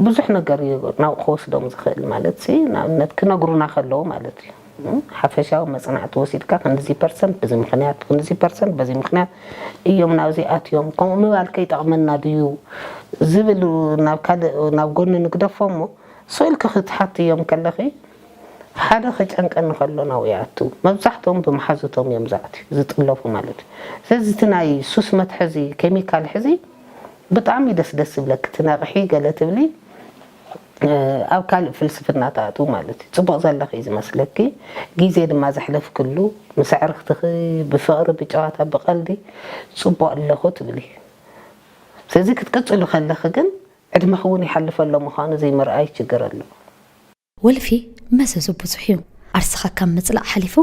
ብዙሕ ነገር እዩ ናብ ክወስዶም ዝኽእል ማለት ሲ ንኣብነት ክነግሩና ከለዉ ማለት እዩ ሓፈሻዊ መፅናዕቲ ወሲድካ ክንድዚ ፐርሰንት ብዚ ምክንያት ክንድዚ ፐርሰንት በዚ ምክንያት እዮም ናብዚ ኣትዮም ከምኡ ምባል ከይጠቕመና ድዩ ዝብል ናብ ካልእ ናብ ጎኒ ንግደፎ እሞ ስእልኪ ክትሓትዮም ከለኺ ሓደ ከጨንቀኒ ከሎ ናብኡ ይኣቱ መብዛሕትኦም ብመሓዙቶም እዮም ዝኣትዩ ዝጥለፉ ማለት እዩ ስለዚ እቲ ናይ ሱስ መትሐዚ ኬሚካል ሕዚ ብጣዕሚ እዩ ደስ ደስ ዝብለኪ ትነቅሒ ገለ ትብሊ ኣብ ካልእ ፍልስፍና ትኣትዊ ማለት እዩ ፅቡቅ ዘለኺ እዩ ዝመስለኪ ግዜ ድማ ዘሕለፍክሉ ምስ ኣዕርኽትኺ ብፍቅሪ ብጨዋታ ብቀልዲ ፅቡቅ ኣለኹ ትብሊ ስለዚ ክትቅፅሉ ከለኺ ግን ዕድመኺ እውን ይሓልፍ ኣሎ ምዃኑ ዘይምርኣይ ችግር ኣሎ። ወልፊ መዘዙ ብዙሕ እዩ። ዓርስኻ ካብ ምጽላእ ሓሊፉ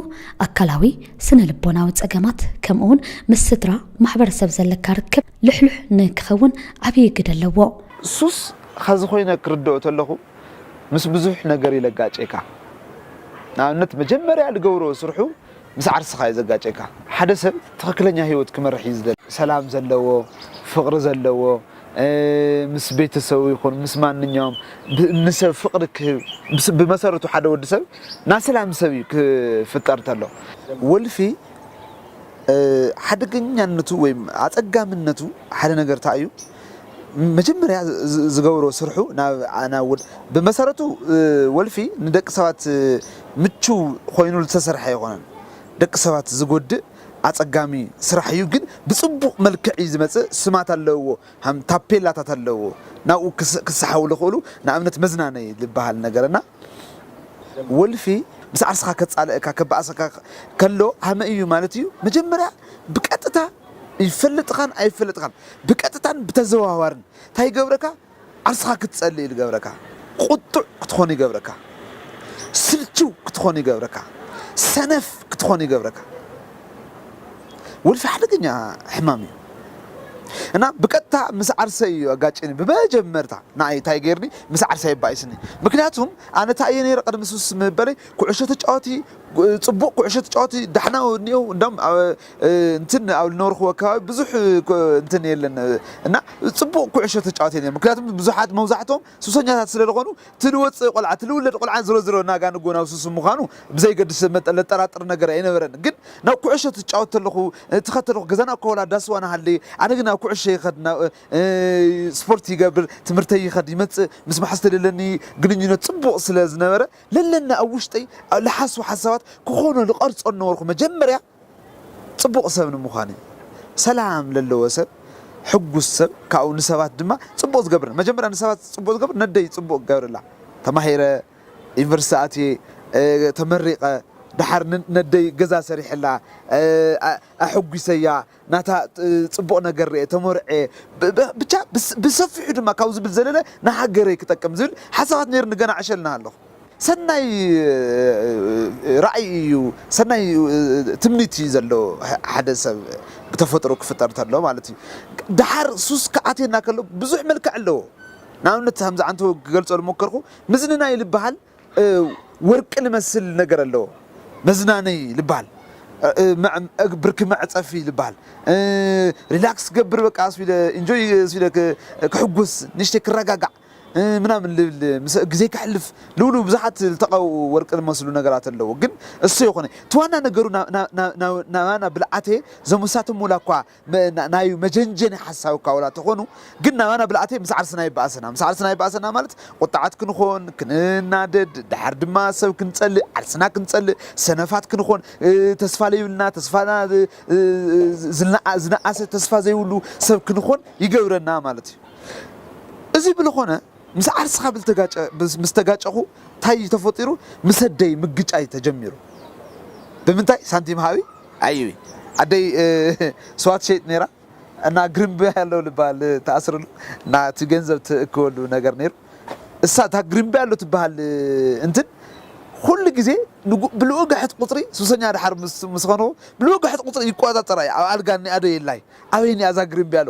ኣካላዊ፣ ስነ ልቦናዊ ጸገማት ከምኡ'ውን ምስ ስድራ፣ ማሕበረሰብ ዘለካ ርክብ ልሕሉሕ ንክኸውን ዓብዪ ግደ ኣለዎ። ሱስ ኸዚ ኮይነ ክርደኦ ተለኹ ምስ ብዙሕ ነገር እዩ ለጋጨካ ንኣብነት መጀመርያ ልገብሮ ስርሑ ምስ ዓርስኻ እዩ ዘጋጨካ። ሓደ ሰብ ትኽክለኛ ህይወት ክመርሕ እዩ ዝደሊ። ሰላም ዘለዎ፣ ፍቕሪ ዘለዎ፣ ምስ ቤተሰቡ ይኹን ምስ ማንኛውም ንሰብ ፍቕሪ ክህብ፣ ብመሰረቱ ሓደ ወዲ ሰብ ናይ ሰላም ሰብ እዩ ክፍጠር ተሎ። ወልፊ ሓደገኛነቱ ወይም ኣፀጋምነቱ ሓደ ነገር ታይ እዩ? መጀመርያ ዝገብሮ ስርሑ ናብ ብመሰረቱ ወልፊ ንደቂ ሰባት ምቹው ኮይኑ ዝተሰርሐ ኣይኾነን ደቂ ሰባት ዝጎድእ ኣፀጋሚ ስራሕ እዩ ግን ብፅቡቅ መልክዕ እዩ ዝመፅእ ስማት ኣለውዎ ታፔላታት ኣለውዎ ናብኡ ክሳሓቡ ዝኽእሉ ንኣብነት መዝናነይ ዝበሃል ነገር እና ወልፊ ምስ ዓርስኻ ከጻልእካ ከባኣሰካ ከሎ ሃመ እዩ ማለት እዩ መጀመርያ ብቀጥታ ይፈልጥኻን ኣይፈለጥኻን ብቀጥታን ብተዘዋዋርን እንታይ ይገብረካ ዓርስኻ ክትጸልእ እዩ ዝገብረካ ቁጡዕ ክትኾን ይገብረካ ስልችው ክትኾን ይገብረካ ሰነፍ ክትኾን ይገብረካ ወልፊ ሓደገኛ ሕማም እዩ እና ብቀጥታ ምስ ዓርሰይ እዩ ኣጋጭኒ ብመጀመርታ ንኣይ ታይ ገይርኒ ምስ ዓርሰይ ኣባኢስኒ ምክንያቱም ኣነ ታይ እየ ነይረ ቅድሚ ሱስ ምበለይ ኩዕሾ ተጫወቲ ፅቡቅ ኩዕሾ ተጫወቲ ዳሕና እኒኦ እንዳም እንትን ኣብ ዝነበርኩዎ ኣካባቢ ብዙሕ እንትን የለን እና ፅቡቅ ኩዕሾ ተጫወቲ ነይረ ምክንያቱም ብዙሓት መብዛሕቶም ሱሰኛታት ስለዝኾኑ እቲ ልወጽእ ቆልዓ እቲ ልውለድ ቆልዓን ዝሮ ዝሮ ናጋ ንጎ ናብ ሱሱ ምዃኑ ብዘይገድስ መጠን ለጠራጥር ነገር ኣይነበረን ግን ናብ ኩዕሾ ትጫወት ተለኹ እቲ ከተለኹ ገዛና እኳ ወላ ዳስ ዋና ሃለየ ኣነ ግን ናብ ኩዕሾ ይኸድ ናብ ስፖርት ይገብር ትምህርተይ ይኸድ ይመጽእ ምስ መሓዝተይ ለለኒ ግንኙነት ጽቡቕ ስለ ዝነበረ ለለኒ ኣብ ውሽጠይ ልሓስቦ ሓሳባት ክኾኖ ልቐርጾ ንነበርኩ መጀመርያ ጽቡቕ ሰብ ንምዃን እዩ። ሰላም ለለዎ ሰብ ሕጉስ ሰብ ካብኡ ንሰባት ድማ ጽቡቕ ዝገብር መጀመርያ ንሰባት ጽቡቕ ዝገብር ነደይ ጽቡቕ ክገብረላ ተማሂረ ዩኒቨርሲቲ ኣትየ ተመሪቐ ደሓር ነደይ ገዛ ሰሪሐላ ኣሕጒሰያ ናታ ጽቡቕ ነገር ርኤ ተመርዔ ብቻ ብሰፊሑ ድማ ካብኡ ዝብል ዘለለ ንሃገረይ ክጠቅም ዝብል ሓሳባት ነይሩኒ ገና ዕሸል እናሃለኹ ሰናይ ራእይ እዩ ሰናይ ትምኒት እዩ ዘለዎ ሓደ ሰብ ብተፈጥሮ ክፍጠር እንተሎ ማለት እዩ ደሓር ሱስ ክኣትየና ከሎ ብዙሕ መልክዕ ኣለዎ ንኣብነት ከምዚ ዓንተ ክገልጾ ዝሞከርኩ ምዝንናይ ዝበሃል ወርቂ ዝመስል ነገር ኣለዎ መዝናነይ ዝበሃል ብርኪ መዕጸፊ ዝበሃል ሪላክስ ገብር በቃ ስለ ኢንጆይ ስለ ክሕጉስ ንሽተይ ክረጋጋዕ ምናምን ልብል ምስ ግዜ ከሕልፍ ልብሉ ብዙሓት ልተቀብኡ ወርቂ ልመስሉ ነገራት ኣለዎ ግን እሱ የኮነ እቲ ዋና ነገሩ ናባና ብልዓቴ ዘሙሳትም ውላ እኳ ናዩ መጀንጀኒ ሓሳብ እኳ ውላ ተኮኑ ግን ናባና ብልዓቴ ምስ ዓርስና ይባኣሰና ምስ ዓርስና ይባኣሰና ማለት ቁጣዓት ክንኮን ክንናደድ ዳሓር ድማ ሰብ ክንጸልእ ዓርስና ክንጸልእ ሰነፋት ክንኮን ተስፋ ለይብልና ተስፋና ዝናኣሰ ተስፋ ዘይብሉ ሰብ ክንኮን ይገብረና ማለት እዩ። እዚ ብልኾነ ምስ ዓርስኻ ብልተጋጨ ምስ ተጋጨኹ ታይ እዩ ተፈጢሩ ምስ ኣደይ ምግጫይ ተጀሚሩ ብምንታይ ሳንቲም ሃቢ ኣይቢ ኣደይ ስዋ ትሸይጥ ነይራ እና ግሪምቢ ኣሎ ልባል ተኣስርሉ እና እቲ ገንዘብ ትእክበሉ ነገር ነይሩ እሳ እታ ግሪምቢ ኣሎ ትበሃል እንትን ኩሉ ግዜ ብልኡግሕት ቁፅሪ ሱሰኛ ድሓር ምስ ኾንኹ ብልኡግሕት ቁፅሪ ይቆፃፀራ እዩ ኣብ ኣልጋ እኒኣ ዶ የላይ ኣበይ እኒኣ እዛ ግሪምቢ ኣሎ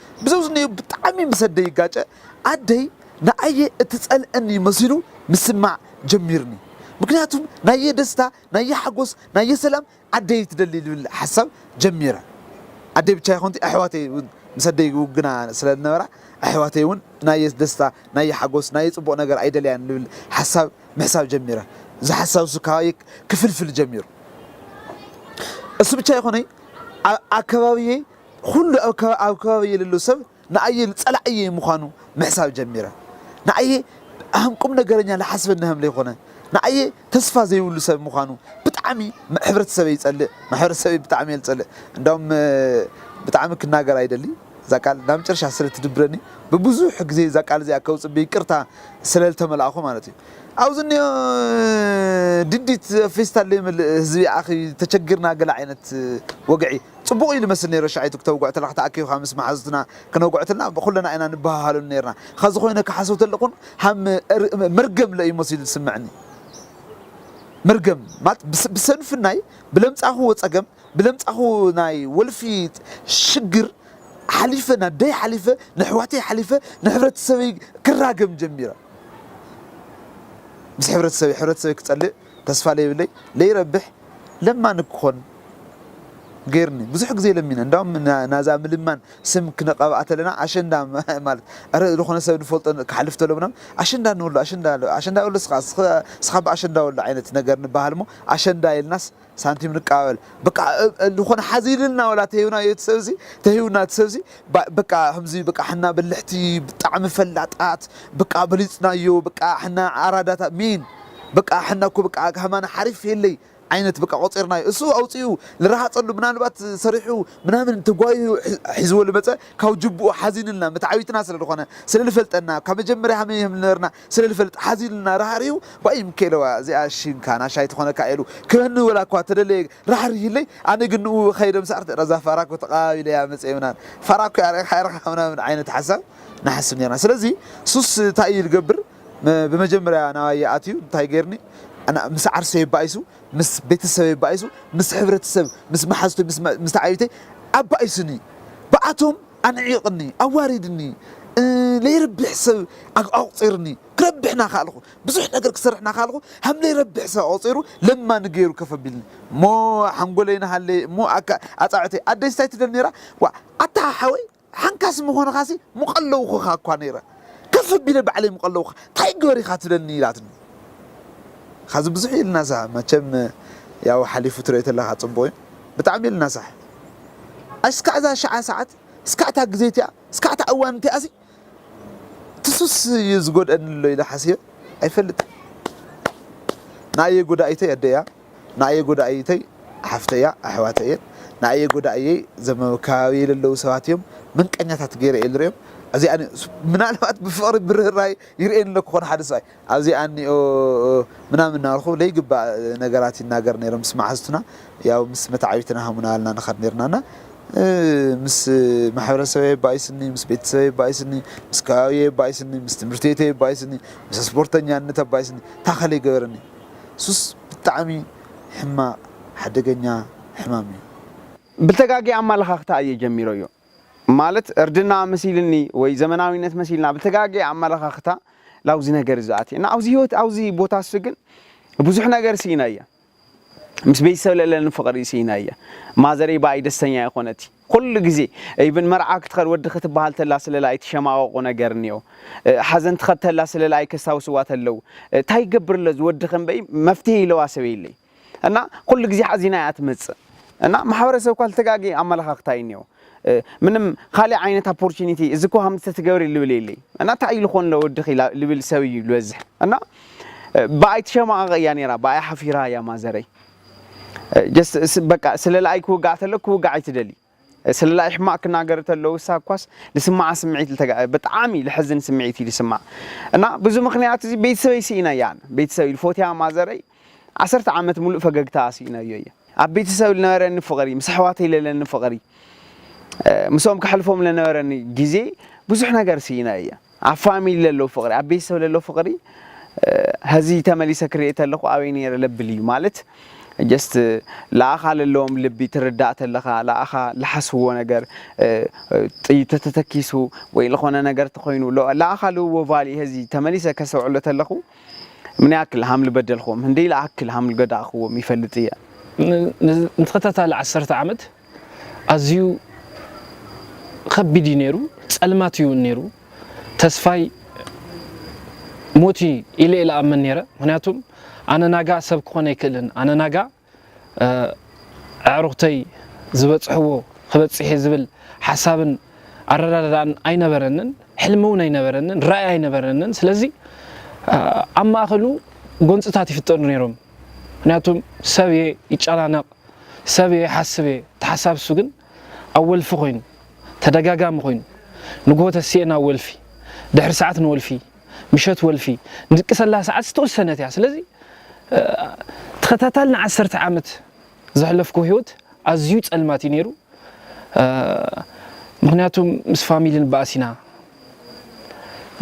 ብዘውዝነዮ ብጣዕሚ ምስ ኣደይ ይጋጨ፣ ኣደይ ንኣየ እትጸልእኒ መሲሉ ምስማዕ ጀሚርኒ ምክንያቱ ናየ ደስታ ናየ ሓጎስ ናየ ሰላም ኣደይ ትደሊ ልብል ሓሳብ ጀሚረ ኣደይ ብቻ ኣይኮንቲ ኣሕዋተይ ውን ምስ ኣደይ ይውግና ስለ ዝነበራ ኣሕዋተይ ውን ናየ ደስታ ናየ ሓጎስ ናየ ጽቡቅ ነገር ኣይደልያን ልብል ሓሳብ ምሕሳብ ጀሚረ እዚ ሓሳብ እሱ ካባየ ክፍልፍል ጀሚሩ እሱ ብቻ ኣይኮነይ ኣብ ኣከባቢየይ ኹሉ ኣብ ከባቢይ የልሉ ሰብ ንኣይ ጸላእይይ ምዃኑ ምሕሳብ ጀሚረ። ንኣይ ሃም ቁም ነገረኛ ልሓስበኒ ሃም ለይኮነ ንኣይ ተስፋ ዘይብሉ ሰብ ምዃኑ ብጣዕሚ ሕብረተሰበይ ይጸልእ ማሕበረሰበይ ብጣዕሚ እየ ልጸልእ እንዳውም ብጣዕሚ ክናገር ኣይደሊ እዛ ቃል ናብ መጨረሻ ስለ ትድብረኒ ብብዙሕ ግዜ እዛ ቃል እዚኣ ከውጽእ ብይቅርታ ስለ ልተመላእኹ ማለት እዩ ኣብዚ እኒኦ ድዲት ፌስታል ለይመልእ ህዝቢ ኣኺ ተቸግርና ገለ ዓይነት ወግዒ ጽቡቕ እዩ ልመስል ነይሩ ሻይቱ ክተውግዖ ተለካ ተኣኪብካ ምስ መሓዙትና ክነውግዖ ተለና ኩለና ኢና ንበሃሃለሉ ነርና ኸዚ ኮይነ ክሓስብ ተለኩን ሃም መርገም ለእዩ መሲሉ ዝስመዕኒ መርገም ማለት ብሰንፍናይ ብለምጻኹዎ ጸገም ብለምጻኹ ናይ ወልፊ ሽግር ሓሊፈ ናደይ ሓሊፈ ንሕዋተይ ሓሊፈ ንሕብረተሰበይ ክራገም ጀሚረ ምስ ሕብረተሰበይ ሕብረተሰበይ ክጸልእ ተስፋ ለይብለይ ለይረብሕ ለማኒ ክኾን ገይርኒ ብዙሕ ግዜ ለሚነ እንዳውም ናዛ ምልማን ስም ክንቐብኣ ተለና ኣሸንዳ ማለት ኣረ ዝኾነ ሰብ ንፈልጦ ክሓልፍ ተሎ ምናምን ኣሸንዳ ንብሎ ኣሸንዳ ኣሸንዳ ብሎ ስኻ ስኻ ብኣሸንዳ ወሎ ዓይነት ነገር ንበሃል እሞ ኣሸንዳ ኢልናስ ሳንቲም ንቀባበል በቃ ዝኾነ ሓዚልና ወላ ተሂብና እቲ ሰብዚ ተሂብና እቲ ሰብዚ ባእ በቃ ከምዚ በቃ ሕና በልሕቲ ብጣዕሚ ፈላጣት በቃ በሊጽናዮ በቃ ሕና ኣራዳታት ሜን በቃ ሕና እኮ በቃ ከማና ሓሪፍ የለይ ዓይነት በቃ ቆጺርናዮ እሱ ኣውጺኡ ልረሃጸሉ ምናልባት ሰሪሑ ምናምን ተጓይሁ ሒዝዎ ልመጸ ካብ ጅቡኡ ሓዚንልና መተዓቢትና ስለ ልኾነ ስለ ልፈልጠና ካብ መጀመርያ ሃመይ ሀምልነበርና ስለ ልፈልጥ ሓዚኑልና ራህሪሁ ዋይ ምኬለዋ እዚኣ ሽንካ ናሻይ ትኾነካ ኢሉ ክበኒ ወላ እኳ ተደለየ ራህሪህለይ ኣነ ግን ንኡ ኸይደ ምስ ኣርተራ እዛ ፋራ እኮ ተቓባቢለያ መጸ ምናምን ፋራ እኮ ኣርኢኻ ኢርኻ ምናምን ዓይነት ሓሳብ ንሓስብ ኔርና ስለዚ ሱስ እንታይ እዩ ልገብር ብመጀመርያ ናባይ ይኣትዩ እንታይ ጌርኒ ኣና ምስ ዓርሰይ ባኢሱ ምስ ቤተሰበይ ባኢሱ ምስ ሕብረተሰብ ምስ መሓዝቶይ ምስ ምስ ተዓቢተይ ኣባኢሱኒ ብኣቶም ኣንዒቕኒ፣ ኣዋሪድኒ፣ ለይረቢሕ ሰብ ኣቑጺሩኒ፣ ክረብሕ ናካኣልኹ፣ ብዙሕ ነገር ክሰርሕ ናካኣልኹ፣ ሃም ለይረቢሕ ሰብ ኣቑጺሩ ለማኒ ገይሩ ከፍ ኣቢልኒ፣ እሞ ሓንጎለይ ናሃለየ፣ እሞ ኣካ ኣጻብዕተይ፣ ኣደይስ እንታይ ትደሊ ነይራ፣ ዋእ ኣታ ሓወይ ሓንካስ ምኾንኻሲ ምቐለውኹኻ እኳ ነይረ፣ ከፍ ኣቢለ ባዕለይ ምቐለውኻ፣ ታይ ግበር ኢኻ ትብለኒ ኢላትኒ። ኻዚ ብዙሕ ኢልና ሳሕ መቸም ያው ሓሊፉ ትሪኦ ተለኻ ጽቡቅ እዩ ብጣዕሚ ኢልና ሳሕ ኣስካዕ እዛ ሽዓ ሳዓት እስካዕ እታ ግዜ እቲኣ እስካዕ እታ እዋን እቲኣሲ ትሱስ እዩ ዝጎድኣኒ ኣሎ ኢለ ሓሲበ ኣይፈልጥን ንኣየ ጎዳኢተይ ኣደ እያ ንኣየ ጎዳኢተይ ሓፍተ እያ ኣሕዋተ እየን ንኣየ ጎዳእየይ ዘመካባቢየ ዘለዉ ሰባት እዮም ምንቀኛታት ገይረ እየ ዝርእዮም እዚኣ ምናልባት ብፍቕሪ ብርህራይ ይርእየኒ ኣለኩ ኮነ ሓደ ሰብኣይ ኣብዚ ኣኒኦ ምናምን ናበልኩ ለይግባእ ነገራት ይናገር ነይረ ምስ ማሓዙትና ያው ምስ መታዓቢትና ሃሙና ኣልና ንከድ ነርና እና ምስ ማሕበረሰበይ የባኢስኒ ምስ ቤተሰበይ የባኢስኒ ምስ ከባቢየይ የባኢስኒ ምስ ትምህርቲ ቤተይ የባኢስኒ ምስ ስፖርተኛነት ኣባኢስኒ ታከለ ይገበረኒ ሱስ ብጣዕሚ ሕማቅ ሓደገኛ ሕማም እዩ። ብተጋጊ ኣማላኻኽታ እየ ጀሚረዮ። ማለት እርድና መሲልኒ ወይ ዘመናዊነት መሲልና ኣብ ዝተጋገየ ኣመለኻኽታ ላብዚ ነገር እዚ ኣትየ እና ኣብዚ ህይወት ኣብዚ ቦታ እሱ ግን ብዙሕ ነገር ስኢና እየ ምስ ቤተሰብ ለለኒ ፍቕሪ ስኢና እየ ማዘረይ ብኣይ ደስተኛ ይኾነቲ ኩሉ ግዜ ኢብን መርዓ ክትኸድ ወዲ ክትበሃል ተላ ስለላ ኣይትሸማቐቑ ነገር እኒኦ ሓዘን ትኸድ ተላ ስለላ ኣይከስታውስዋ ተለው ታይ ይገብርለዝ ወዲ ከንበይ መፍትሄ ኢለዋ ሰበይለይ እና ኩሉ ግዜ ሓዚና እያ ትመጽእ እና ማሕበረሰብ እኳ ዝተጋገየ ኣመለኻኽታ እዩ እኒኦ ምንም ካሊእ ዓይነት ኣፖርቹኒቲ እዚ እኮ ሃምቲ ተትገብሪ ልብል የለይ እና እንታይ እዩ ልኾን ለወድኺ ልብል ሰብ እዩ ዝበዝሕ እና ብኣይ ትሸማቐቕ እያ ነይራ ብኣይ ሓፊራ እያ ማዘረይ ጀስት በቃ ስለለኣይ ክውጋዕ ተሎ ክውጋዕ ኣይትደሊ ስለላይ ሕማቅ ክናገር ተለው እሳ እኳስ ልስማዓ ስምዒት ልተገዐ ብጣዓሚ ልሐዝን ስምዒት እዩ ልስማዓ እና ብዙ ምክንያት እዚ ቤተሰበይ ስኢነ እያ ኣነ ቤተሰብ ልፎትያ ማዘረይ ዓሰርተ ዓመት ሙሉእ ፈገግታኣ ስኢነዮ እየ ኣብ ቤተሰብ ልነበረኒ ፍቅሪ ምስ ኣሕዋተይ ለለኒ ፍቅሪ ምስኦም ከሕልፎም ለነበረኒ ግዜ ብዙሕ ነገር ስኢነ እየ። ኣብ ፋሚሊ ለሎ ፍቅሪ ኣብ ቤተሰብ ለሎ ፍቅሪ ሀዚ ተመሊሰ ክርኤ ተለኩ ኣበይ ነይረ ለብል እዩ ማለት ጀስት ለኣኻ ለለዎም ልቢ ትርዳእ ተለኻ ለኣኻ ለሓስዎ ነገር ጥይ ተተተኪሱ ወይ ለኾነ ነገር ተኾይኑ ለኣኻ ልዎ ቫሊ ሀዚ ተመሊሰ ከሰውዕሎ ተለኹ ምን ያክል ሃምል በደልክዎም ህንደይ ለኣክል ሃምል ገዳእክዎም ይፈልጥ እየ ንተኸታታሊ ዓሰርተ ዓመት ኣዝዩ ኸቢድ እዩ ነይሩ፣ ጸልማት እዩ ነይሩ፣ ተስፋይ ሞት እዩ ኢለ ኢለ ኣመን ነይረ፣ ምክንያቱም ኣነ ናጋ ሰብ ክኾን ኣይክእልን፣ ኣነ ናጋ ኣዕሩኽተይ ዝበጽሕዎ ክበጽሕ እየ ዝብል ሓሳብን ኣረዳድኣን ኣይነበረንን፣ ሕልሚ እውን ኣይነበረንን፣ ራኢ ኣይነበረንን፣ ስለዚ ኣብ ማእኸሉ ጎንጽታት ይፍጠሩ ነይሮም፣ ምክንያቱም ሰብ እየ ይጨናነቕ፣ ሰብ እየ ይሓስብ እየ ተሓሳብ እሱ ግን ኣብ ወልፊ ኮይኑ ተደጋጋሚ ኮይኑ ንግሆ ተሲኤ ናብ ወልፊ ድሕሪ ሰዓት ንወልፊ ምሸት ወልፊ ንድቅሰላ ሰዓት ዝተወሰነት እያ ስለዚ ተኸታታሊ ንዓሰርተ ዓመት ዘሕለፍኩ ህይወት ኣዝዩ ጸልማት እዩ ነይሩ ምክንያቱ ምስ ፋሚሊ ንባኣስ ኢና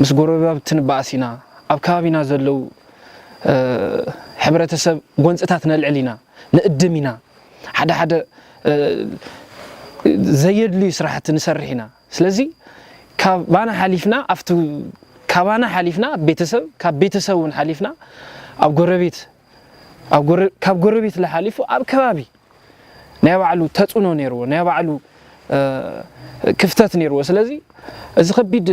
ምስ ጎረባብቲ ንባኣስ ኢና ኣብ ከባቢና ዘለው ሕብረተሰብ ጎንፅታት ነልዕል ኢና ንእድም ኢና ሓደ ሓደ ዘየድልዩ ስራሕቲ ንሰርሕ ኢና ስለዚ ካባና ሓሊፍና ኣብቲ ካባና ሓሊፍና ቤተሰብ ካብ ቤተሰብ እውን ሓሊፍና ኣብ ጎረቤት ካብ ጎረቤት ሓሊፉ ኣብ ከባቢ ናይ ባዕሉ ተጽዕኖ ነይርዎ፣ ናይ ባዕሉ ክፍተት ነይርዎ። ስለዚ እዚ ከቢድ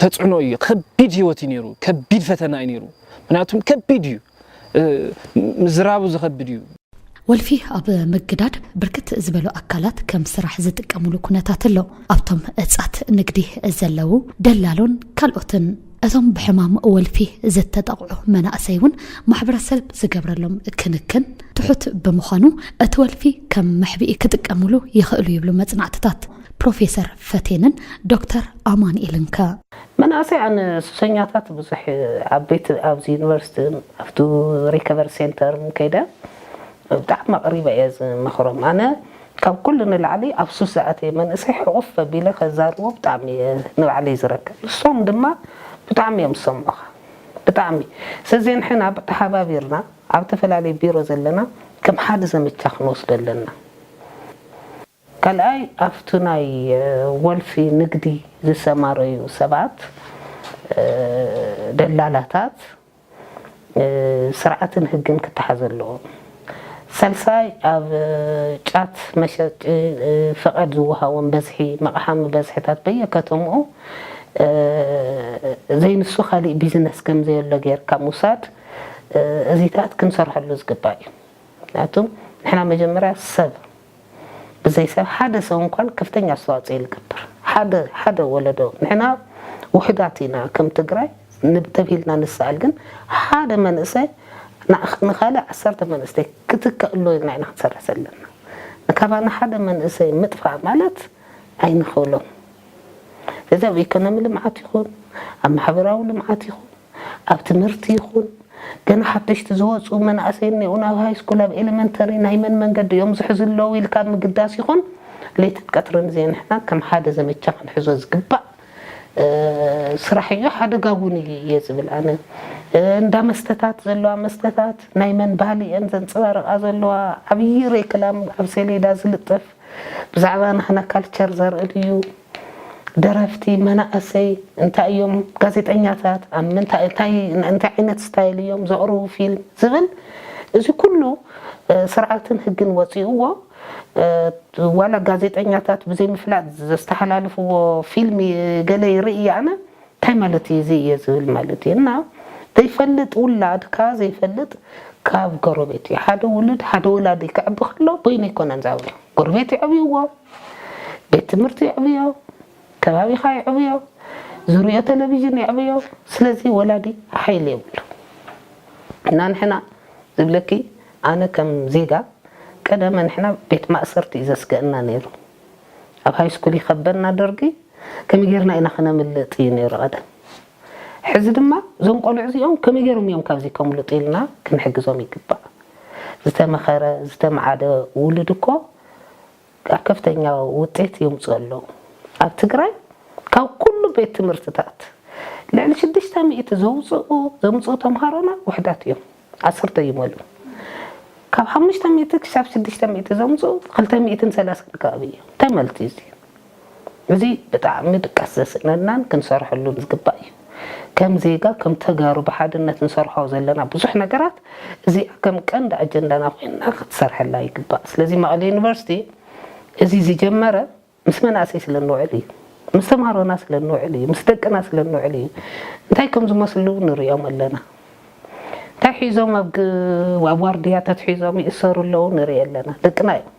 ተጽዕኖ እዩ፣ ከቢድ ህይወት እዩ ነይሩ፣ ከቢድ ፈተና እዩ ነይሩ። ምክንያቱም ከቢድ እዩ፣ ምዝራቡ ዝኸብድ እዩ። ወልፊ ኣብ ምግዳድ ብርክት ዝበሉ ኣካላት ከም ስራሕ ዝጥቀሙሉ ኩነታት ኣሎ። ኣብቶም እጻት ንግዲ ዘለዉ ደላሎን ካልኦትን። እቶም ብሕማም ወልፊ ዝተጠቕዑ መናእሰይ እውን ማሕበረሰብ ዝገብረሎም ክንክን ትሑት ብምዃኑ እቲ ወልፊ ከም መሕብኢ ክጥቀምሉ ይኽእሉ ይብሉ መፅናዕትታት ፕሮፌሰር ፈቴንን ዶክተር ኣማንኤልን ከ? መናእሰያን ሱሰኛታት ብዙሕ ኣብ ቤት ኣብዚ ዩኒቨርሲቲን ኣብቲ ሪከቨሪ ሴንተርን ከይደ ብጣዕሚ ኣቅሪበ እየ ዝመክሮም ኣነ ካብ ኩሉ ንላዕሊ ኣብ ሱስ ዝኣተየ መንእሰይ ሕቁፍ ኣቢለ ከዛርቦ ብጣዕሚ እየ ንባዕለይ ዝረክብ ንሶም ድማ ብጣዕሚ እዮም ዝሰምዑካ ብጣዕሚ ስለዚ ንሕና ተሓባቢርና ኣብ ተፈላለየ ቢሮ ዘለና ከም ሓደ ዘመቻ ክንወስዶ ኣለና። ካልኣይ ኣብቲ ናይ ወልፊ ንግዲ ዝሰማረዩ ሰባት፣ ደላላታት፣ ስርዓትን ህግን ክተሓዙ ኣለዎም። ሳልሳይ ኣብ ጫት መሸጢ ፍቓድ ዝወሃቦም በዝሒ መቕሓሚ በዝሕታት በየከተምኡ ዘይንሱ ካሊእ ቢዝነስ ከምዘየሎ ገይርካ ምውሳድ እዚታት ክንሰርሐሉ ዝግባእ እዩ። ምክንያቱ ንሕና መጀመርያ ሰብ። ብዘይ ሰብ ሓደ ሰው እንኳን ከፍተኛ ኣስተዋፅኦ ይገብር ሓደ ሓደ ወለዶ ንሕና ውሕዳት ኢና ከም ትግራይ ንብ ተብሂልና ንሰኣል ግን ሓደ መንእሰይ ንዓ ንካልእ ዓሰርተ መንእስተይ ክትከእ ኣሎ ኢልና ኢና ክንሰርሕ ዘለና ንካባና ሓደ መንእሰይ ምጥፋእ ማለት ኣይንክእሎን ስለዚ ኣብ ኢኮኖሚ ልምዓት ይኹን ኣብ ማሕበራዊ ልምዓት ይኹን ኣብ ትምህርቲ ይኹን ገና ሓደሽቲ ዝወጹ መናእሰይ እኔዉ ናብ ሃይስኩል ኣብ ኤለመንተሪ ናይ መን መንገዲ እዮም ዝሕዙ ኣለዉ ኢልካ ኣብ ምግዳስ ይኹን ለይትን ቀትርን ዜንሕና ከም ሓደ ዘመቻ ክንሕዞ ዝግባእ ስራሕ እዩ ሓደጋ እውን እዩ እየ ዝብል ኣነ እንዳ መስተታት ዘለዋ መስተታት ናይ መን ባህሊ እየን ዘንፀባርቃ ዘለዋ ዓብዪ ሬክላም ኣብ ሰሌዳ ዝልጠፍ ብዛዕባ ናህና ካልቸር ዘርኢ እዩ ደረፍቲ መናእሰይ እንታይ እዮም፣ ጋዜጠኛታት ኣብ ምንታይ እንታይ እንታይ ዓይነት ስታይል እዮም ዘቕርቡ ፊልም ዝብል እዚ ኩሉ ስርዓትን ህግን ወጺኡዎ ዋላ ጋዜጠኛታት ብዘይምፍላጥ ዘስተሓላልፍዎ ፊልም ገለ ይርኢ ኣነ እንታይ ማለት እዩ እዚ እየ ዝብል ማለት እዩ እና ዘይፈልጥ ውላድካ ዘይፈልጥ ካብ ጎረቤት እዩ ሓደ ውሉድ ሓደ ወላዲ ከዕቢ ከሎ በይኑ ኣይኮነን ዝዓብዮ ጎረቤት የዕብይዎ ቤት ትምህርቲ የዕብዮ፣ ከባቢኻ የዕብዮ፣ ዝሪኦ ተለቪዥን የዕብዮ፣ ስለዚ ወላዲ ሓይሊ የብሉ እና ንሕና ዝብለኪ ኣነ ከም ዜጋ ቀደመ ንሕና ቤት ማእሰርቲ እዩ ዘስገእና ነይሩ ኣብ ሃይስኩል ይኸበና ደርጊ ከመይ ጌርና ኢና ክነምልጥ እዩ ነይሩ ቀደም ሕዚ ድማ እዞም ቆልዑ እዚኦም ከመይ ጌሮም እዮም ካብዚ ከምልጡ ኢልና ክንሕግዞም ይግባእ ዝተመኸረ ዝተመዓደ ውሉድ እኮ ከፍተኛ ውጤት የምፅኡ ኣለው። ኣብ ትግራይ ካብ ኩሉ ቤት ትምህርትታት ልዕሊ ሽዱሽተ ሚእቲ ዘውፅኡ ዘምፅኡ ተምሃሮና ውሕዳት እዮም። ዓሰርተ ይመልኡ። ካብ ሓሙሽተ ሚእቲ ክሳብ ሽዱሽተ ሚእቲ ዘምፅኡ ክልተ ሚእትን ሰላሳን ከባቢ እዮም። ተመልቲ እዚኦም። እዚ ብጣዕሚ ድቃስ ዘስእነናን ክንሰርሐሉን ዝግባእ እዩ። ከም ዜጋ ከም ተጋሩ ብሓድነት ንሰርሖ ዘለና ብዙሕ ነገራት እዚኣ ከም ቀንዲ ኣጀንዳና ኮይና ክትሰርሐላ ይግባእ። ስለዚ መቐለ ዩኒቨርሲቲ እዚ ዝጀመረ ምስ መናእሰይ ስለ እንውዕል እዩ። ምስ ተምሃሮና ስለ እንውዕል እዩ። ምስ ደቅና ስለ እንውዕል እዩ። እንታይ ከም ዝመስሉ ንርእዮም ኣለና። እንታይ ሒዞም ኣብ ዋርድያ ተትሒዞም ይእሰሩ ኣለዉ ንርኢ ኣለና። ደቅና እዮም።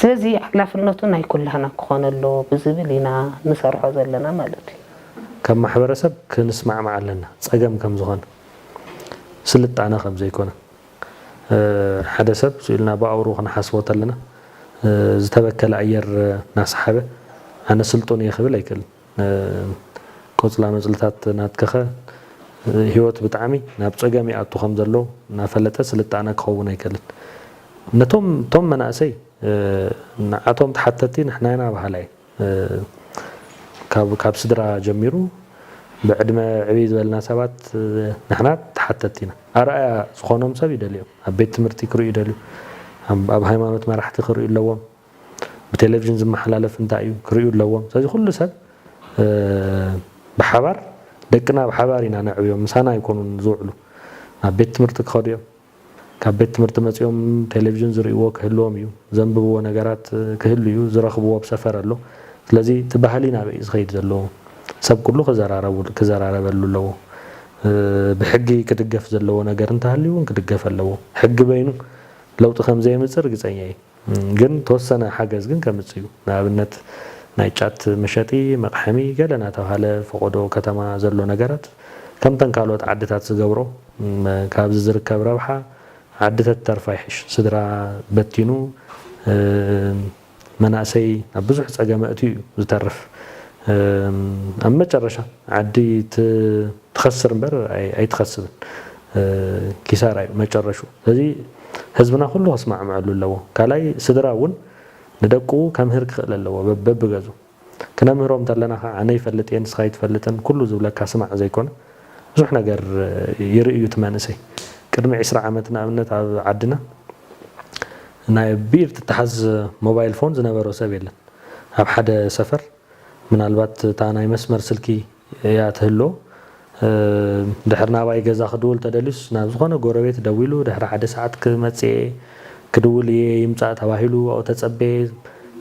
ስለዚ ሓላፍነቱ ናይ ኩላህና ክኾን ኣለዎ ብዝብል ኢና ንሰርሖ ዘለና ማለት እዩ። ከም ማሕበረሰብ ክንስማዕማዕ ኣለና ፀገም ከምዝኾነ ስልጣነ ከምዘይኮነ ሓደ ሰብ ስኢልና ብኣውርኡ ክንሓስቦ ተለና ዝተበከለ ኣየር ናሰሓበ ኣነ ስልጡን እየ ክብል ኣይክእልን። ቆጽላመጽልታት ናትካኸ ህይወት ብጣዕሚ ናብ ጸገም ይኣቱ ከም ዘሎ እናፈለጠ ስልጣነ ክኸውን ኣይክእልን። ነቶም እቶም መናእሰይ ንዓቶም ተሓተቲ ንሕና ኢና በሃላይ ካብ ካብ ስድራ ጀሚሩ ብዕድመ ዕብይ ዝበልና ሰባት ንሕና ተሓተቲ ኢና። ኣርኣያ ዝኾኖም ሰብ ይደልዮም ኣብ ቤት ትምህርቲ ክርእዩ ይደልዩ ኣብ ሃይማኖት መራሕቲ ክርእዩ ኣለዎም። ብቴሌቭዥን ዝመሓላለፍ እንታይ እዩ ክርእዩ ኣለዎም ስለዚ ኩሉ ሰብ ብሓባር ደቅና ብሓባር ኢና ነዕብዮም ምሳና ኣይኮኑን ዝውዕሉ ናብ ቤት ትምህርቲ ክኸዱ እዮም ካብ ቤት ትምህርቲ መፂኦም ቴሌቭዥን ዝርእይዎ ክህልዎም እዩ ዘንብብዎ ነገራት ክህሉ እዩ ዝረኽብዎ ብ ሰፈር ኣሎ ስለዚ እቲ ባህሊ ናበይ እዩ ዝኸይድ ዘሎ ሰብ ኩሉ ክዘራረበሉ ኣለዎ ብሕጊ ክድገፍ ዘለዎ ነገር እንተሃልዩ እውን ክድገፍ ኣለዎ ሕጊ በይኑ ለውጢ ከምዘየምፅእ ርግፀኛ እየ ግን ተወሰነ ሓገዝ ግን ከምጽእ እዩ ንኣብነት ናይ ጫት መሸጢ መቕሐሚ ገለ ናተብሃለ ፈቖዶ ከተማ ዘሎ ነገራት ከምተን ካልኦት ዓድታት ዝገብሮ ካብዚ ዝርከብ ረብሓ ዓዲ ተትተርፋ ይሕሽ ስድራ በቲኑ መናእሰይ ኣብ ብዙሕ ጸገም ኣእትዩ እዩ ዝተርፍ ኣብ መጨረሻ ዓዲ ትኸስር እምበር ኣይትኸስብን ኪሳራ እዩ መጨረሹ። እዚ ህዝብና ኩሉ ክስማዕመዐሉ ኣለዎ ካልኣይ ስድራ እውን ንደቁ ከምህር ክኽእል ኣለዎ በብገዙ ክነምህሮም ተለና ከዓ ኣነ ይፈልጥ እየ ንስኻ ኣይትፈልጥን ኩሉ ዝብለካ ስማዕ ዘይኮነ ብዙሕ ነገር ይርኢ እዩ እቲ መንእሰይ ቅድሚ ዕስራ ዓመት ንኣብነት ኣብ ዓድና ናይ ብኢድ ትተሓዝ ሞባይል ፎን ዝነበሮ ሰብ የለን ኣብ ሓደ ሰፈር ምናልባት እታ ናይ መስመር ስልኪ እያ ትህሎ። ድሕሪ ናባይ ገዛ ክድውል ተደልዩስ ናብ ዝኾነ ጎረቤት ደዊሉ ድሕሪ ሓደ ሰዓት ክመጽእየ ክድውል እየ ይምጻእ ተባሂሉ ኣብኡ ተጸበየ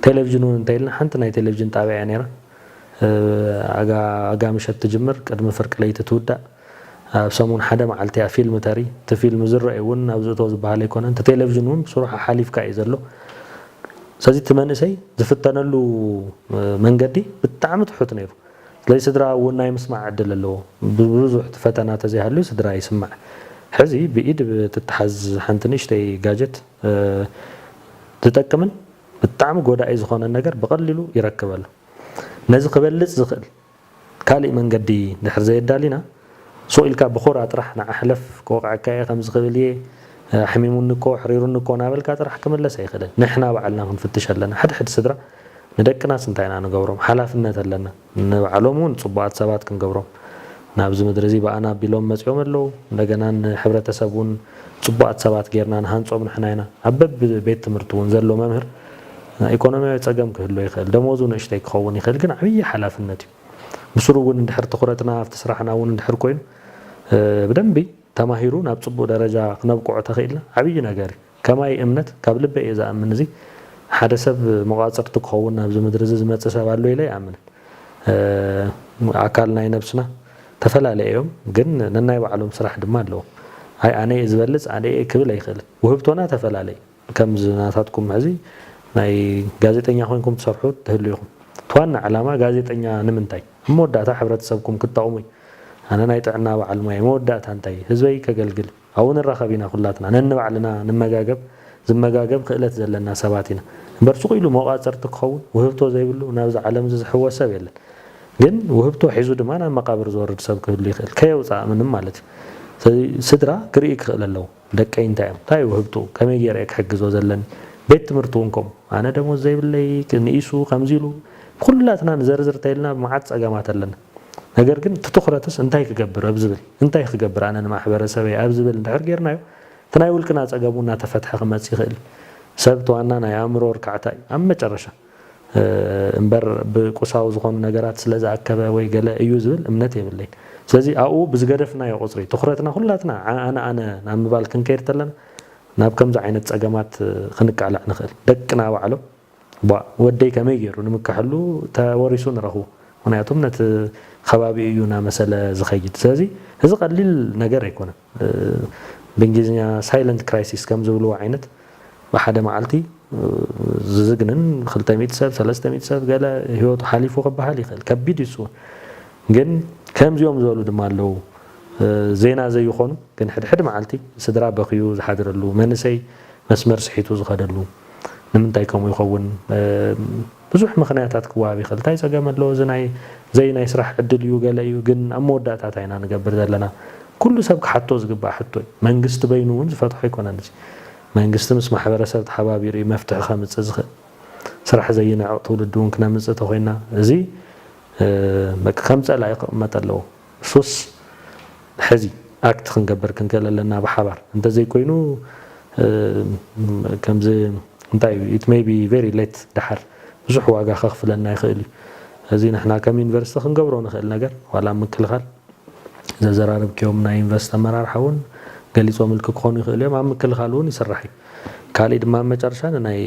ቴለቭዥን ውን እንተይልና ሓንቲ ናይ ቴለቭዥን ጣብያ እያ ነይራ ኣጋ ኣጋ ምሸት ትጅምር ቅድሚ ፍርቂ ለይቲ ትውዳእ ኣብ ሰሙን ሓደ መዓልቲ እያ ፊልም ተርኢ እቲ ፊልም ዝረእይ ውን ኣብዚ እቶ ዝበሃል ኣይኮነን እቲ ቴለቭዥን ውን ብስሩዕ ሓሓሊፍካ እዩ ዘሎ ስለዚ እቲ መንእሰይ ዝፍተነሉ መንገዲ ብጣዕሚ ትሑት ነይሩ። ስለዚ ስድራ እውን ናይ ምስማዕ ዕድል ኣለዎ። ብዙሕ እቲ ፈተና ተዘይሃልዩ ስድራ ይስማዕ። ሕዚ ብኢድ ብትተሓዝ ሓንቲ ንእሽተይ ጋጀት ዝጠቅምን ብጣዕሚ ጎዳኢ ዝኾነን ነገር ብቐሊሉ ይረክብ ኣሎ። ነዚ ክበልፅ ዝኽእል ካሊእ መንገዲ ድሕር ዘየዳሊና ሱቕ ኢልካ ብኹራ ጥራሕ ንዓ ሕለፍ ክወቕዐካ እየ ከምዚ ክብል እየ ኣሕሚሙኒ እኮ ኣሕሪሩኒ እኮ ናበልካ ጥራሕ ክምለስ ኣይክእልን ንሕና ባዕልና ክንፍትሽ ኣለና ሕድሕድ ስድራ ንደቅናስ እንታይ ኢና ንገብሮም ሓላፍነት ኣለና ንባዕሎም ውን ጽቡቓት ሰባት ክንገብሮም ናብዚ ምድሪ እዚ ብኣና ኣቢሎም መጽዮም ኣለዉ እንደገና ንሕብረተሰብ ውን ጽቡቓት ሰባት ጌርና ንሃንጾም ንሕና ኢና ኣብ በቢ ቤት ትምህርቲ ውን ዘሎ መምህር ኢኮኖሚያዊ ጸገም ክህልዎ ይኽእል ደሞዙ ንእሽተይ ክኸውን ይኽእል ግን ዓብዪ ሓላፍነት እዩ ብስሩ እውን እንድሕር ትኹረትና ኣብቲ ስራሕና እውን እንድሕር ኮይኑ ብደንቢ ተማሂሩ ናብ ፅቡቅ ደረጃ ክነብቅዖ ተኽኢልና ዓብዪ ነገር እዩ። ከማይ እምነት ካብ ልበይ እየ ዝኣምን እዚ ሓደ ሰብ መቋፅርቲ ክኸውን ናብዚ ምድሪ እዚ ዝመፅእ ሰብ ኣሎ ኢለ ኣይኣምንን ኣካል ናይ ነብስና ተፈላለየ እዮም ግን ነናይ ባዕሎም ስራሕ ድማ ኣለዎም ኣይ ኣነ እየ ዝበልፅ ኣነ እየ ክብል ኣይኽእልን ውህብቶና ተፈላለይ ከምዚ ናታትኩም መኣዚ ናይ ጋዜጠኛ ኮይንኩም ትሰርሑ ትህሉ ኢኹም እቲ ዋና ዕላማ ጋዜጠኛ ንምንታይ ኣብ መወዳእታ ሕብረተሰብኩም ክትጠቕሙ እዩ ኣነ ናይ ጥዕና በዓል ሞያይ መወዳእታ እንታይ ህዝበይ ከገልግል ኣብኡ ንራኸብ ኢና ኩላትና ነንባዕልና ንመጋገብ ዝመጋገብ ክእለት ዘለና ሰባት ኢና እምበር ሱቕ ኢሉ መቋፅርቲ ክኸውን ውህብቶ ዘይብሉ ናብዚ ዓለምዚ ዝሕወስ ሰብ የለን ግን ውህብቶ ሒዙ ድማ ናብ መቃብር ዝወርድ ሰብ ክህሉ ይኽእል ከየውፀኣ ምንም ማለት እዩ ስለዚ ስድራ ክርኢ ክኽእል ኣለዎ ደቀይ እንታይ እዮም? እንታይ እዩ ውህብትኡ? ከመይ ገይረ እየ ክሕግዞ ዘለኒ? ቤት ትምህርቲ እውን ከምኡ። ኣነ ደሞዝ ዘይብለይ፣ ንኢሱ ከምዚ ኢሉ። ንኹላትና ንዘርዝር እንተይልና መዓት ፀገማት ኣለና። ነገር ግን እቲ ትኹረትስ እንታይ ክገብር ኣብ ዝብል፣ እንታይ ክገብር ኣነ ንማሕበረሰበይ ኣብ ዝብል እንድሕር ገይርናዮ እቲ ናይ ውልቅና ፀገም እውን እናተፈትሐ ክመፅእ ይኽእል እዩ። ሰብ እቲ ዋና ናይ ኣእምሮ ርካዕታ እዩ። ኣብ መጨረሻ። እምበር ብቁሳዊ ዝኾኑ ነገራት ስለ ዝኣከበ ወይ ገለ እዩ ዝብል እምነት የብለይን። ስለዚ ኣብኡ ብዝገደፍናዮ ቁጽሪ ትኹረትና ኩላትና ዓኣነ ኣነ ናብ ምባል ክንከይድ ተለና ናብ ከምዚ ዓይነት ጸገማት ክንቃላዕ ንኽእል። ደቅና ባዕሎም ቧእ ወደይ ከመይ ጌሩ ንምከሐሉ ተወሪሱ ንረኽቡ ምኽንያቱም ነቲ ኸባቢኡ እዩ ናመሰለ ዝኸይድ። ስለዚ እዚ ቀሊል ነገር ኣይኮነን። ብእንግሊዝኛ ሳይለንት ክራይሲስ ከም ዝብልዎ ዓይነት ብሓደ መዓልቲ ዝዝግንን ክልተ ሚእቲ ሰብ ሰለስተ ሚእቲ ሰብ ገለ ህይወቱ ሓሊፉ ክበሃል ይኽእል ከቢድ እዩ እሱ ግን ከምዚኦም ዝበሉ ድማ ኣለዉ ዜና ዘይኾኑ ግን ሕድሕድ መዓልቲ ስድራ በኽዩ ዝሓድረሉ መንእሰይ መስመር ስሒቱ ዝኸደሉ ንምንታይ ከምኡ ይኸውን ብዙሕ ምኽንያታት ክወሃብ ይኽእል ታይ ጸገም ኣለዎ እዚ ናይ ዘይ ናይ ስራሕ ዕድል እዩ ገለ እዩ ግን ኣብ መወዳእታ እንታይ ኢና ንገብር ዘለና ኩሉ ሰብ ክሓቶ ዝግባእ ሕቶ እዩ መንግስቲ በይኑ ውን ዝፈትሖ ኣይኮነን እዚ መንግስቲ ምስ ማሕበረሰብ ተሓባቢሩ እዩ መፍትሒ ከምጽእ ዝኽእል ስራሕ ዘይንዕቕ ትውልዲ ውን ክነምጽእ ተኾይና እዚ በቃ ከም ጸላኢ ክቕመጥ ኣለዎ። ሱስ ሕዚ ኣክት ክንገብር ክንክእል ኣለና ብሓባር እንተዘይ ኮይኑ ከምዚ እንታይ እዩ ኢት መይ ቢ ቨሪ ሌት ደሓር ብዙሕ ዋጋ ከኽፍለና ይኽእል እዩ እዚ ንሕና ከም ዩኒቨርሲቲ ክንገብሮ ንኽእል ነገር ዋላ ኣብ ምክልኻል ዘዘራረብክዮም ናይ ዩኒቨርሲቲ ኣመራርሓ እውን ገሊፆምልኪ ክኾኑ ይኽእሉ እዮም ኣብ ምክልኻል እውን ይስራሕ እዩ ካሊእ ድማ ኣብ መጨረሻ ንናይ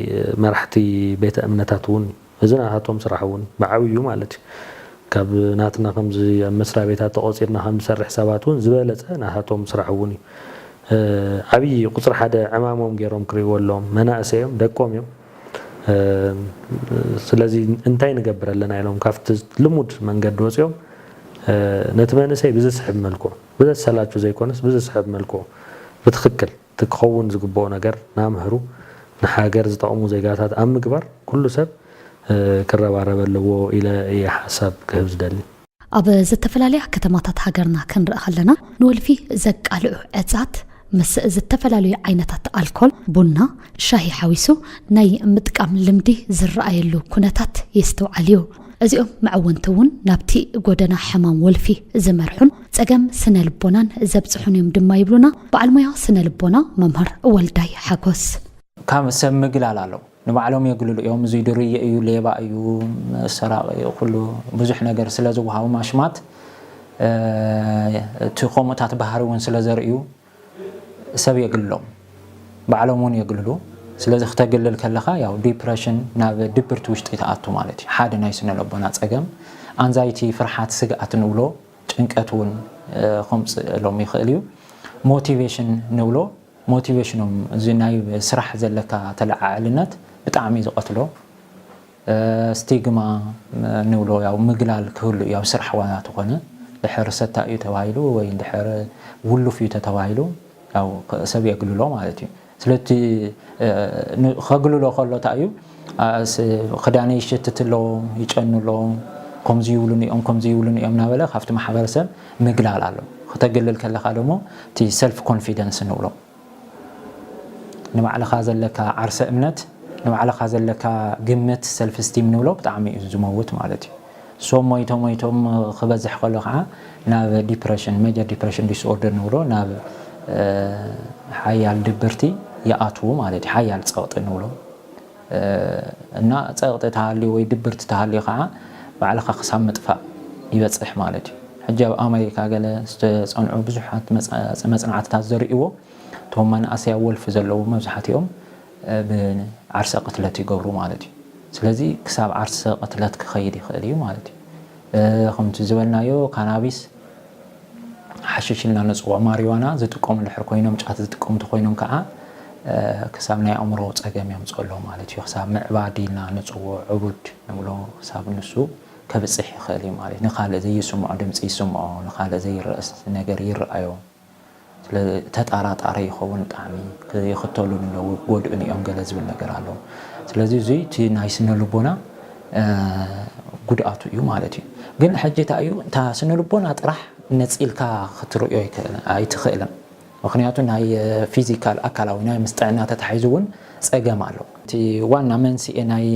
መራሕቲ ቤተ እምነታት እውን እዚ ናታቶም ስራሕ እውን ብዓብይኡ ማለት እዩ ካብ ናትና ከምዚ ኣብ መስርያ ቤታት ተቖፂርና ከምንሰርሕ ሰባት እውን ዝበለፀ ናታቶም ስራሕ እውን እዩ ዓብዪ ቁፅሪ ሓደ ዕማሞም ገይሮም ክሪእዎ ኣለዎም መናእሰይ እዮም ደቆም እዮም ስለዚ እንታይ ንገብር ኣለና ኢሎም ካብቲ ልሙድ መንገዲ ወፂኦም ነቲ መንእሰይ ብዝስሕብ መልክዑ ብዘሰላቹ ዘይኮነስ ብዝስሕብ መልክዑ ብትኽክል እቲ ክኸውን ዝግበኦ ነገር ናምህሩ ንሃገር ዝጠቕሙ ዜጋታት ኣብ ምግባር ኩሉ ሰብ ክረባረበ ኣለዎ ኢለ እየ ሓሳብ ክህብ ዝደሊ። ኣብ ዝተፈላለያ ከተማታት ሃገርና ክንርኢ ከለና ንወልፊ ዘቃልዑ ዕጻት ምስ ዝተፈላለዩ ዓይነታት ኣልኮል፣ ቡና፣ ሻሂ ሓዊሱ ናይ ምጥቃም ልምዲ ዝረኣየሉ ኩነታት የስትውዓል እዩ። እዚኦም መዕወንቲ እውን ናብቲ ጎደና ሕማም ወልፊ ዝመርሑን ጸገም ስነ ልቦናን ዘብጽሑን እዮም ድማ ይብሉና በዓል ሞያ ስነ ልቦና መምህር ወልዳይ ሓጎስ። ካብ ሰብ ምግላል ኣሎ ንባዕሎም የግልሉ እዮም እዙይ ድርየ እዩ ሌባ እዩ ሰራቂ እዩ ኩሉ ብዙሕ ነገር ስለ ዝወሃቦም ኣሽማት እቲ ከምኡታት ባህሪ እውን ስለ ዘርእዩ ሰብ የግልሎም ባዕሎም ውን የግልሉ ስለዚ ክተግልል ከለኻ ያው ዲፕረሽን ናብ ድብርቲ ውሽጢ ትኣቱ ማለት እዩ ሓደ ናይ ስነለቦና ጸገም ኣንዛይቲ ፍርሓት ስግኣት ንብሎ ጭንቀት ውን ከምጽእሎም ይኽእል እዩ ሞቲቬሽን ንብሎ ሞቲቬሽኖም እዚ ናይ ስራሕ ዘለካ ተለዓዕልነት ብጣዕሚ ዝቐትሎ ስቲግማ ንብሎ ያው ምግላል ክህሉ እዩ ኣብ ስራሕ ዋላ ተኾነ ድሕር ሰታይ እዩ ተባሂሉ ወይ ድሕር ውሉፍ እዩ ተተባሂሉ ያው ሰብ የግልሎ ማለት እዩ ስለቲ ከግልሎ ከሎ እንታይ እዩ ክዳነይ ይሸትት ኣሎ ይጨኑ ኣሎ ከምዚ ይብሉኒ እዮም ከምዚ ይብሉኒ እዮም እናበለ ካብቲ ማሕበረሰብ ምግላል ኣሎ ክተግልል ከለካ ደሞ እቲ ሰልፍ ኮንፊደንስ ንብሎ ንባዕልኻ ዘለካ ዓርሰ እምነት ንባዕልኻ ዘለካ ግምት ሰልፍ ስቲም ንብሎ ብጣዕሚ እዩ ዝመውት ማለት እዩ ሶም ሞይቶ ሞይቶም ክበዝሕ ከሎ ከዓ ናብ ዲፕሬሽን ሜጀር ዲፕሬሽን ዲስኦርደር ንብሎ ናብ ሓያል ድብርቲ ይኣትዉ ማለት እዩ ሓያል ፀቕጢ ንብሎ እና ጸቕጢ ተሃልዩ ወይ ድብርቲ ተሃልዩ ከኣ ባዕልኻ ክሳብ ምጥፋእ ይበጽሕ ማለት እዩ። ሕጂ ኣብ ኣመሪካ ገለ ዝተጸንዑ ብዙሓት መጽናዕትታት ዘርእይዎ እቶም መናእሰይ ኣብ ወልፊ ዘለዉ መብዛሕትኦም ብ ዓርሰ ቅትለት ይገብሩ ማለት እዩ። ስለዚ ክሳብ ዓርሰ ቅትለት ክኸይድ ይኽእል እዩ ማለት እዩ። ከምቲ ዝበልናዮ ካናቢስ ሓሽሽ ኢልና ነጽውዖ ማሪዋና ዝጥቀሙ ድሕር ኮይኖም ጫት ዝጥቀሙ እንተኾይኖም ከኣ ክሳብ ናይ ኣእምሮ ጸገም የምጽኦ ኣሎ ማለት እዩ። ክሳብ ምዕባድ ኢልና ንጽውዖ ዕቡድ ንብሎ ክሳብ ንሱ ከብጽሕ ይኽእል እዩ ማለት እዩ። ንኻልእ ዘይስምዖ ድምጺ ይስምዖ፣ ንኻልእ ዘይረእ ነገር ይረኣዮ። ስለ ተጣራጣሪ ይኸውን ጣዕሚ ይኽተሉ ንለው ጎድእን እዮም ገለ ዝብል ነገር ኣሎ ስለዚ እዚ እቲ ናይ ስነ ልቦና ጉድኣቱ እዩ ማለት እዩ ግን ሕጂ እንታይ እዩ እታ ስነ ልቦና ጥራሕ ነፂልካ ክትርእዮ ኣይትኽእልን ምክንያቱ ናይ ፊዚካል ኣካላዊ ናይ ምስ ጥዕና ተታሒዙ እውን ፀገም ኣሎ እቲ ዋና መንስኤ ናይ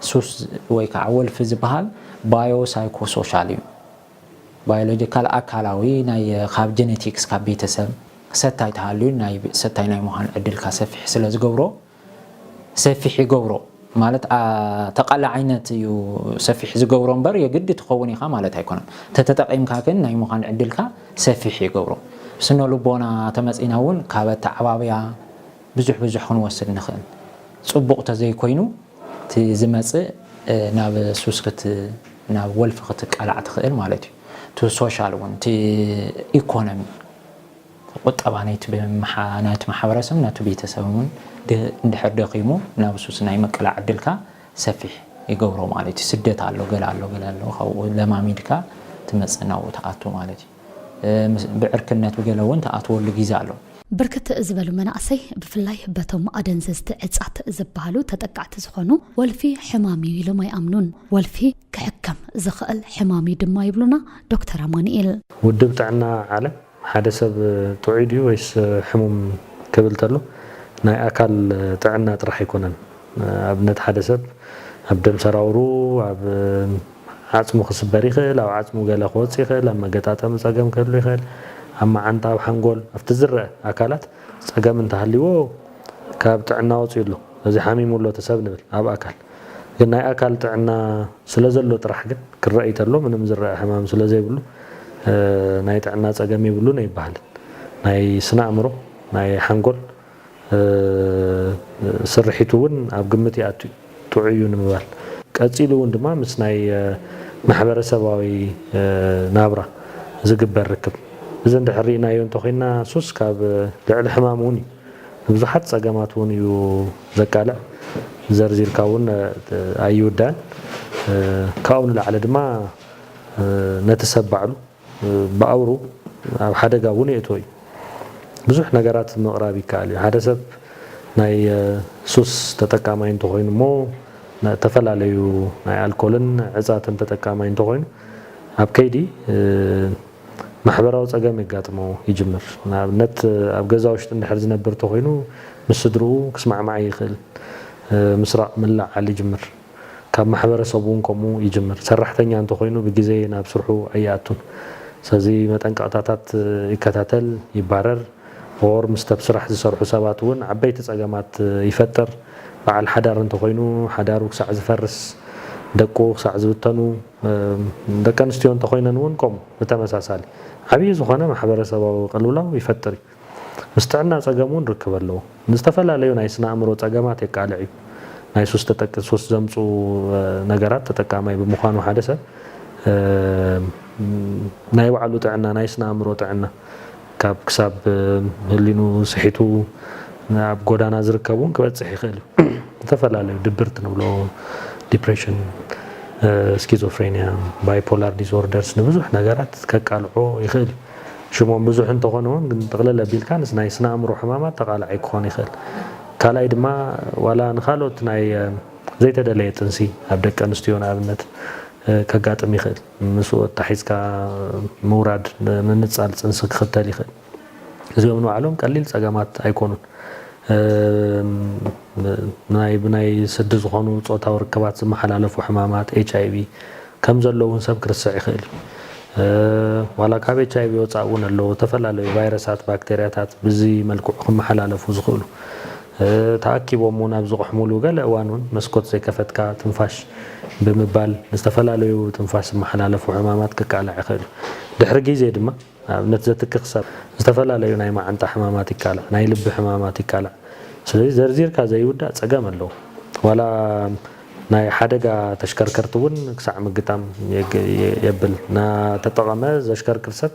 ሱስ ወይ ከዓ ወልፊ ዝበሃል ባዮ ሳይኮሶሻል እዩ ባዮሎጂካል፣ ኣካላዊ፣ ናይ ካብ ጀነቲክስ ካብ ቤተሰብ ሰታይ ተሃልዩ ናይ ሰታይ ናይ ምዃን ዕድልካ ሰፊሕ ስለዝገብሮ ሰፊሕ ይገብሮ ማለት ተቓላዓይነት እዩ ሰፊሕ ዝገብሮ እምበር የግዲ ትኸውን ኢኻ ማለት ኣይኮነን። ተተጠቒምካ ግን ናይ ምዃን ዕድልካ ሰፊሕ ይገብሮ። ስነ ልቦና ተመጺና እውን ካብ ኣተዓባብያ ብዙሕ ብዙሕ ክንወስድ ንኽእል። ጽቡቕ ተዘይኮይኑ እቲ ዝመጽእ ናብ ሱስ ክት ናብ ወልፊ ክትቃላዕ ትኽእል ማለት እዩ። እቲ ሶሻል እውን እቲ ኢኮኖሚ ቁጠባ ናይቲ ናይቲ ማሕበረሰብ ናቱ ቤተሰብ እውን እንድሕር ደኺሙ ናብ ሱስ ናይ ምቅላዕ ዕድልካ ሰፊሕ ይገብሮ ማለት እዩ። ስደት ኣሎ ገለ ኣሎ ገለ ኣሎ ካብኡ ለማሚድካ ትመጽእ ናብኡ ትኣቱ ማለት እዩ። ብዕርክነት ብገለ እውን ትኣትወሉ ጊዘ ኣሎ። ብርክት ዝበሉ መናእሰይ ብፍላይ በቶም ኣደንዘዝቲ ዕፃት ዝበሃሉ ተጠቃዕቲ ዝኾኑ ወልፊ ሕማም እዩ ኢሎም ኣይኣምኑን። ወልፊ ክሕከም ዝኸእል ሕማም እዩ ድማ ይብሉና ዶክተር ኣማኑኤል። ውድብ ጥዕና ዓለም ሓደ ሰብ ጥዑይ ድዩ ወይስ ሕሙም ክብል ተሎ ናይ ኣካል ጥዕና ጥራሕ ኣይኮነን። ኣብነት ሓደ ሰብ ኣብ ደም ሰራውሩ፣ ኣብ። ዓጽሙ ክስበር ይኽእል፣ ኣብ ዓጽሙ ገለ ክወጽእ ይኽእል፣ ኣብ መገጣጠሚ ጸገም ክህሉ ይኽእል፣ ኣብ መዓንጣ፣ ኣብ ሓንጎል፣ ኣብቲ ዝረኣ ኣካላት ጸገም እንተሃልይዎ ካብ ጥዕና ወጺኡ ኣሎ፣ ስለዚ ሓሚሙ ኣሎ እቲ ሰብ ንብል። ኣብ ኣካል ግን ናይ ኣካል ጥዕና ስለዘሎ ጥራሕ ግን ክረኣይ ተሎ ምንም ዝረኣ ሕማም ስለዘይብሉ ናይ ጥዕና ጸገም የብሉን ኣይበሃልን። ናይ ስነ ኣእምሮ፣ ናይ ሓንጎል፣ ስርሒቱ እውን ኣብ ግምት ይኣቱ እዩ፣ ጥዑይ እዩ ንምባል። ቀፂሉ እውን ድማ ምስ ናይ ማሕበረሰባዊ ናብራ ዝግበር ርክብ። እዚ እንድሕር ርኢናዮ እንተኾይንና ሱስ ካብ ልዕሊ ሕማም እውን እዩ፣ ንብዙሓት ፀገማት እውን እዩ ዘቃልዕ፣ ዘርዚርካ እውን ኣይውዳእን። ካብኡ ንላዕሊ ድማ ነቲ ሰብ ባዕሉ ብኣውሩ ኣብ ሓደጋ እውን የእትዎ እዩ። ብዙሕ ነገራት ምቕራብ ይከኣል እዩ። ሓደ ሰብ ናይ ሱስ ተጠቃማይ እንተኾይኑ እሞ እተፈላለዩ ናይ ኣልኮልን ዕፃትን ተጠቃማይ እንተኾይኑ ኣብ ከይዲ ማሕበራዊ ፀገም የጋጥሞ ይጅምር። ንኣብነት ኣብ ገዛ ውሽጢ እንድሕር ዝነብር እንተኾይኑ ምስ ስድርኡ ክስማዕማዕ ይኽእል ምስራቕ ምልዕዓል ይጅምር። ካብ ማሕበረሰብ እውን ከምኡ ይጅምር። ሰራሕተኛ እንተኾይኑ ብግዜ ናብ ስርሑ ኣይኣቱን። ስለዚ መጠንቀቕታታት ይከታተል፣ ይባረር፣ or ምስቲ ኣብ ስራሕ ዝሰርሑ ሰባት እውን ዓበይቲ ፀገማት ይፈጥር። በዓል ሓዳር እንተኾይኑ ሓዳሩ ክሳዕ ዝፈርስ፣ ደቁ ክሳዕ ዝብተኑ፣ ደቂ ኣንስትዮ እንተኾይነን እውን ከምኡ ብተመሳሳሊ ዓብዪ ዝኾነ ማሕበረሰባዊ ቅልውላው ይፈጥር እዩ። ምስ ጥዕና ጸገም እውን ርክብ ኣለዎ። ንዝተፈላለዩ ናይ ስነ ኣእምሮ ጸገማት የቃልዕ እዩ። ናይ ሱስ ተጠቂ ሱስ ዘምጽኡ ነገራት ተጠቃማይ ብምዃኑ ሓደ ሰብ ናይ ባዕሉ ጥዕና ናይ ስነ ኣእምሮ ጥዕና ካብ ክሳብ ህሊኑ ስሒቱ ኣብ ጎዳና ዝርከብ እውን ክበጽሕ ይኽእል እዩ። ዝተፈላለዩ ድብርት ንብሎ ዲፕሬሽን ስኪዞፍሬንያ ባይፖላር ዲስኦርደርስ ንብዙሕ ነገራት ከቃልዖ ይኽእል እዩ። ሽሞም ብዙሕ እንተኾነ ውን ግን ጥቕልል ኣቢልካ ምስ ናይ ስነ-ኣእምሮ ሕማማት ተቓላዒ ክኾን ይኽእል። ካልኣይ ድማ ዋላ ንኻልኦት ናይ ዘይተደለየ ጥንሲ ኣብ ደቂ ኣንስትዮ ንኣብነት ከጋጥም ይኽእል። ምስኡ ኣታሒዝካ ምውራድ ምንጻል ጥንሲ ክኽተል ይኽእል። እዚኦም ንባዕሎም ቀሊል ጸገማት ኣይኮኑን። ናይ ብናይ ስዲ ዝኾኑ ጾታዊ ርክባት ዝመሓላለፉ ሕማማት፣ ኤችኣይቪ፣ ከም ዘሎ እውን ሰብ ክርስዕ ይኽእል እዩ። ዋላ ካብ ኤች ኣይቪ ወፃእ እውን ኣለዉ ዝተፈላለዩ ቫይረሳት፣ ባክቴርያታት ብዚ መልክዑ ክመሓላለፉ ዝኽእሉ። ተኣኪቦም እውን ኣብ ዝቕሕሙሉ ገለ እዋን እውን መስኮት ዘይከፈትካ ትንፋሽ ብምባል ንዝተፈላለዩ ብትንፋሽ ዝመሓላለፉ ሕማማት ክቃላዕ ይኽእል እዩ። ድሕሪ ግዜ ድማ። ንኣብነት ዘትክኽ ሰብ ዝተፈላለዩ ናይ መዓንጣ ሕማማት ይቃላዕ፣ ናይ ልቢ ሕማማት ይቃላዕ። ስለዚ ዘርዚርካ ዘይውዳእ ጸገም ኣለዎ። ዋላ ናይ ሓደጋ ተሽከርከርቲ እውን ክሳዕ ምግጣም የብል። እናተጠቐመ ዘሽከርክር ሰብ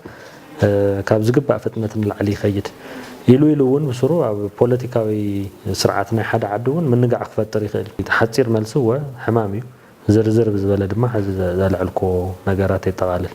ካብ ዝግባእ ፍጥነት ንላዕሊ ይኸይድ። ኢሉ ኢሉ እውን ብስሩ ኣብ ፖለቲካዊ ስርዓት ናይ ሓደ ዓዲ እውን ምንጋዕ ክፈጥር ይኽእል እዩ። ሓጺር መልሲ እወ ሕማም እዩ። ዝርዝር ብዝበለ ድማ ሕዚ ዘልዐልኩዎ ነገራት የጠቓልል።